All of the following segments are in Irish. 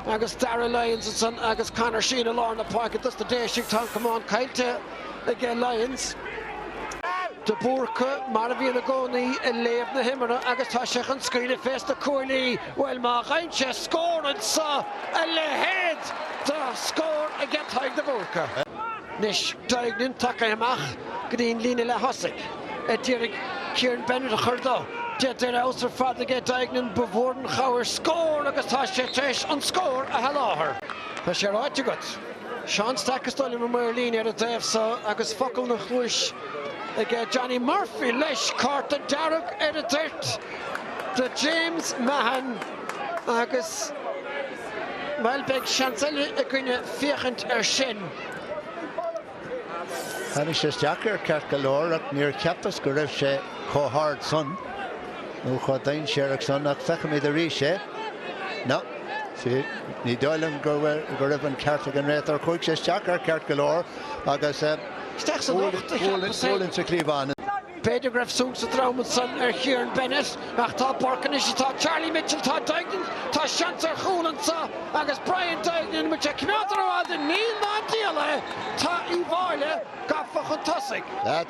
Agus Darragh Lyons ansan agus Conor Sheehan i lár na páirce dos na Déisigh, tá an camán caillte aige Lyons. De Búrca, mar a bhíonn i gcónaí, ag léamh na himeartha agus tá sé chun scaoileadh fés na cuaillí. Bhuel, má gheibheann sé scór anseo, a leithéid de scór aige Tadhg De Búrca! Anois, Duignan tagtha amach go dtí an líne leath-thosaigh. a d'iarraidh Kieran Bennett a chur dó. Déanta ar fheabhas ar fad aige Duignan, ba mhór an chabhair scór agus tá sé tar éis an scór a sholáthar. Tá sé ráite agat. Seán Stack is dóigh liom an maor líne ar an dtaobh so agus focal ina chluais ag Johnny Murphy leis! Cárta dearg ar an toirt do James Mahon agus, bhuel, beidh seans eile againne féachaint air sin. Tháinig sé isteach air ceart go leor ach níor cheapas go raibh sé chomh hard san, nó chomh dainséarach san, ach feicfimid arís é. No. Ní dóigh liom go raibh an ceart ag an réiteoir, chuaigh sé isteach air ceart go leor agus gualainn sa chliabhán! B'fhéidir go raibh sé saghas trom ansan ar Kieran Bennett ach tá Burke anois is tá Charlie Mitchell, tá Duignan, tá seans ar chúl anseo agus Brian Duignan, muid ag coimeád ar an mhaidin, níl ná díol é! Tá Uíbh Fháilí gafa chun tosaigh.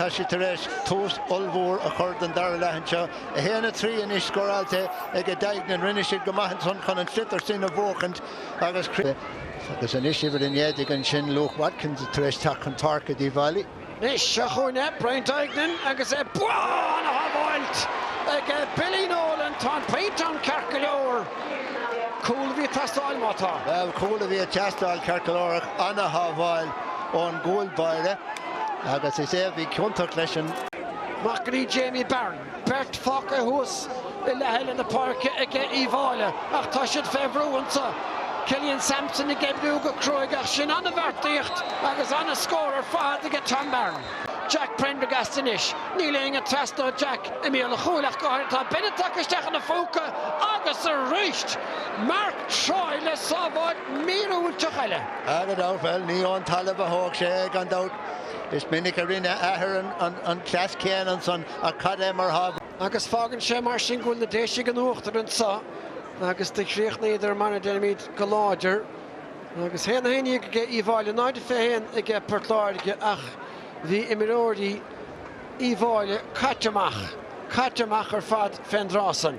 Tá siad tar éis tús ollmhór a chur don dara leath anseo. 1, 3 anois scóráilte ag Duignan, rinne siad go maith ansan chun an sliotar sin a bhuachaint agus Anois uimhir a naoi déag ansin, Luke Watkins tar éis teacht chun páirce d'Uíbh Fháilí. Anois, seo chugainn é Brian Duignan agus é ba an-shábháilt ag Billy Nolan. Tá an pointe ann ceart go leor. Cúl a bhí ag teastáil, má tá. Bhuel, cúl a bhí ag teastáil ceart go leor, an-shábháil ón gcúl báire agus is é a bhí ciontach leis san. Amach go dtí Jamie Barron. Beirt fágtha thuas i leath eile na páirce aige Uíbh Fháilí ach tá siad fé bhrú anseo. Killian Sampson ag oibriú go cruaidh ach sin an-bheartaíocht agus an-scór ar fad aige Tom Barron. Jack Prendergast anois. Níl éinne ag trasnú Jack i mbéal an chúil ach go háirithe. Tá Bennett tagtha isteach ina phóca agus arís! Mark Troy le sábháil míorúilteach eile aige. Bhuel, ní ón talamh a thóg sé é gan dabht. Is minic a rinne a athair an cleas céanna ansan. Ach cad é mar shábháil? Agus fágann sé mar sin go bhfuil na Déisigh in uachtar anseo agus do chríochnaíodar mar a deirimid go láidir agus 1, 11 aige Uíbh Fháilí, 0 a 21 aige Port Láirge ach bhí imreoirí Uíbh Fháilí caite amach, caite amach ar fad fén dtráth san.